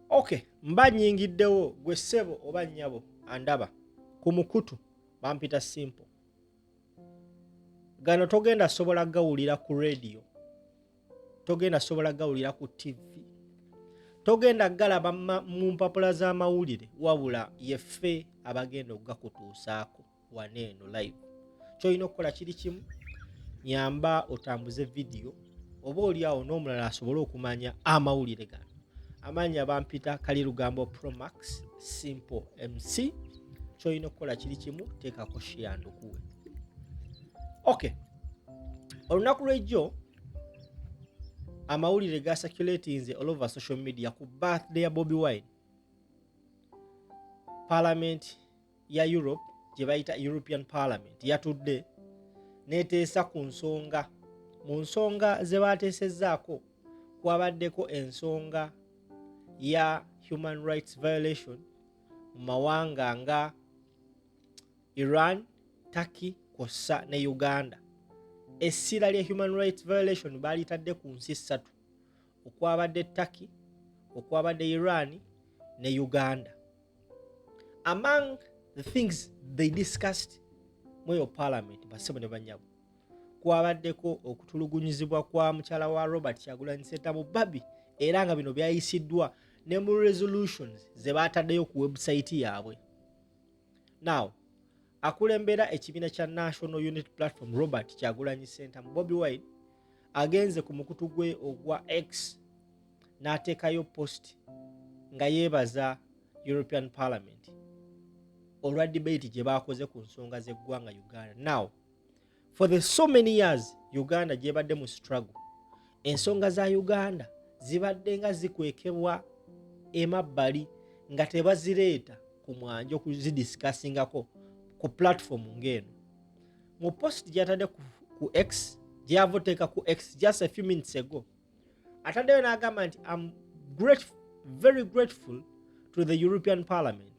okay mba nyingiddewo gwe ssebo oba nnyabo andaba ku mukutu bampita simple gano togenda sobola gawulira ku rediyo togenda sobola gawulira ku tivi togenda galaba mu mpapula z'amawulire wabula yeffe abagenda okugakutuusaako wano eno live kyolina okukola kiri kimu nyamba otambuze vidiyo oba oliawo n'omulala asobole okumanya amawulire gano amaanyi abampita kali lugambo promax simple mc kyolina okukola kiri kimu teekako shiyandukuwe ok olunaku lwejjo amawulire ga circulatinze all over social media ku birthday ya bobi wine parliament ya europe gye bayita european parliament yatudde neteesa ku nsonga mu nsonga ze baateesezzaako kwabaddeko ensonga ya human rights violation mu mawanga nga iran turkey kwossa ne uganda essira lya human rights violation baalitadde ku nsi ssatu okwabadde Turkey, okwabadde Iran ne Uganda. Among the things they discussed mweyo parliament basebo ne banyabo kwabaddeko okutulugunyizibwa kwa mukyala wa Robert Kyagulanyi Ssentamu Barbie era nga bino byayisiddwa ne mu resolutions ze baataddeyo ku website yaabwe. Now, Akulembera ekibiina kya National Unit Platform Robert Kyagulanyi Ssentamu Bobi Wine agenze ku mukutu gwe ogwa X n'ateekayo post nga yeebaza European Parliament olwa debate gye baakoze ku nsonga z'eggwanga Uganda now for the so many years uganda gyebadde mu struggle ensonga za uganda zibadde nga zikwekebwa emabbali nga tebazireeta ku mwanja okuzidisikasingako ku platform ng'eno mu post gyatadde ku, ku x gyavoteeka ku x just a few minutes ago ataddeyo n'agamba nti am grateful, very grateful to the european parliament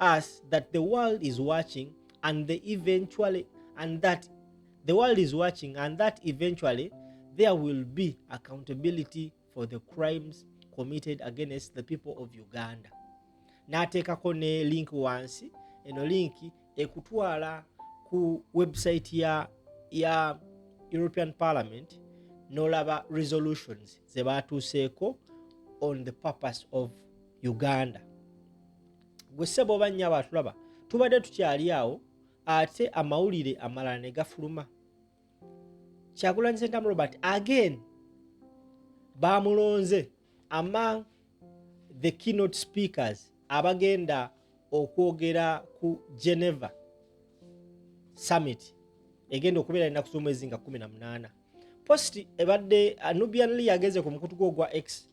us that the world is watching and they eventually and that the world is watching and that eventually there will be accountability for the crimes committed against the people of uganda n'ateekako ne link wansi eno link ekutwala ku website ya, ya european parliament n'olaba resolutions ze baatuuseeko on the purpose of uganda gwe sebo oba nyabo atulaba tubadde tukyali awo ate amawulire amalala ne gafuluma kyagulanyi sentamu robert again bamulonze among the keynote speakers abagenda okwogera ku geneva summit egenda okubeera enaku z'omwezi nga 18 post ebadde anubian lee yageze ku mukutu gwo ogwa x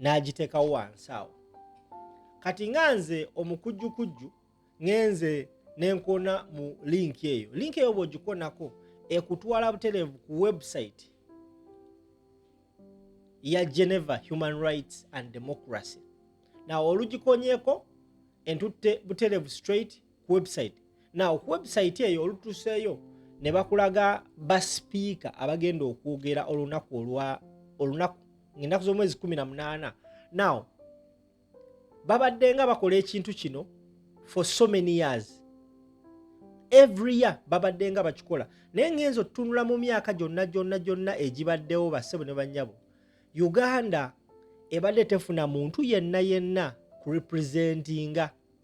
n'agiteekawo wansi awo kati nga nze omukujjukujju ngenze nenkona mu linki eyo linki eyo bwogikonako ekutwala butereevu ku website ya geneva human rights and democracy nawe olugikonyeko entutte butereevu straight ku website naw ku website eyo olutuseeyo ne bakulaga basipiika abagenda okwogera olunaku olwa olunaku ngaenaku z'omwezi 18 naw babadde nga bakola ekintu kino for so many years every year babadde nga bakikola naye ngenza otutunula mu myaka gyonna gyonna gyonna egibaddewo bassebo ne bannyabo uganda ebadde tefuna muntu yenna yenna kurepresentinga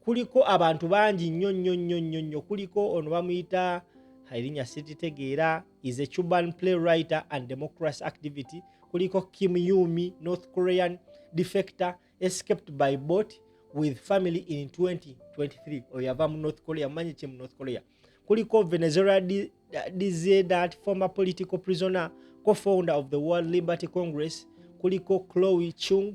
kuliko abantu bangi nnyo nnyo nnyo nnyo nnyo kuliko ono bamuyita erinnya siritegeera is a cuban play writer and democracy activity kuliko kim yumi north korean defector escaped by boat with family in 2023 oyo yava mu north korea mumanyi ki mu north korea kuliko venezuela dizdat former political prisoner co-founder of the world liberty congress kuliko chloe chung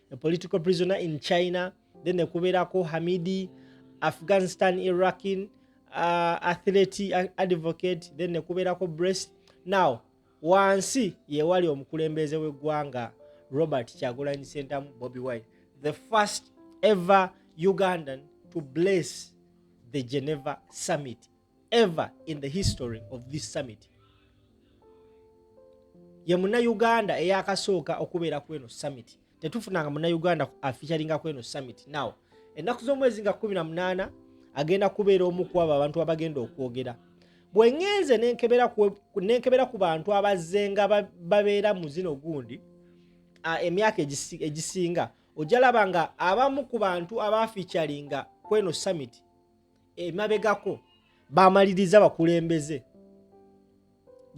a political prisoner in China, then the Kuberako Hamidi, Afghanistan Iraqin, uh, athlete uh, advocate, then the Kuberako breast. Now, wansi ye wali omukulembeze w'eggwanga Robert Kyagulanyi Sentamu Bobi Wine, the first ever Ugandan to bless the Geneva summit. ever in the history of this summit ye munauganda eyakasooka okubeera ku eno summit tetufunanga munauganda afeaturinga ku eno summit now ennaku z'omwezi nga 18 agenda kubeera omu ku abo abantu abagenda okwogera bwe ŋŋenze nenkebera ku bantu abazze nga babeera mu zino gundi emyaka egisinga ojja laba nga abamu ku bantu abaafiicalinga kweno summit emabegako bamaliriza bakulembeze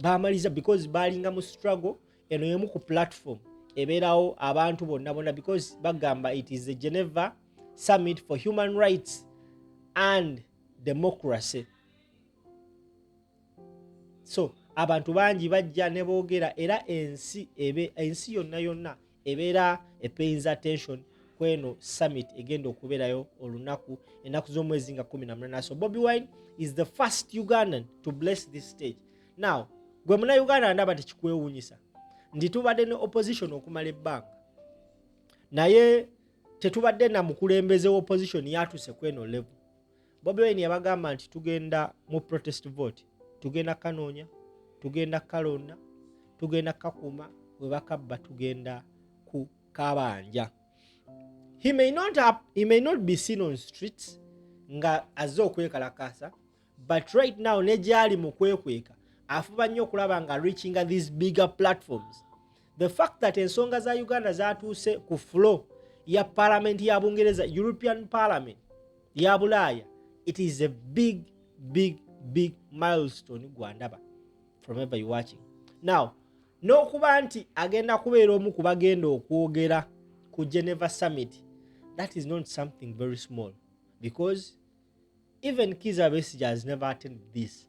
bamaliriza because balinga mu struggle eno yemu ku platform ebeerawo abantu bonna bonna because bagamba it is a geneva summit for human rights and democracy so abantu bangi bajja ne boogera era ensi ebe ensi yonna yonna ebeera epeyinza tension kweno summit egenda okubeerayo olunaku enaku z'omwezi nga 18 so bobi wine is the first ugandan to bless this stage now gwe muna uganda ndaba tekikwewunyisa nti tubadde ne opposition okumala ebbanga naye tetubadde na mukulembeze wa opposition yatuse kweno level Bobi Wine yabagamba nti tugenda mu protest vote, tugenda kanoonya, tugenda kalonda, tugenda kakuuma, bwe bakabba tugenda ku kabanja. He may not have, he may not be seen on streets nga azze okwekalakaasa but right now ne gyali mu kwekweka afuba nnyo okulaba nga reachinga these bigger platforms the fact that ensonga za uganda zatuuse ku flo ya palamenti ya bungereza european parliament ya bulaaya it is a big big big milestone gwandaba from ever you watching now n'okuba nti agenda kubeera omu ku bagenda okwogera ku geneva summit that is not something very small because even kiza besija has never attended this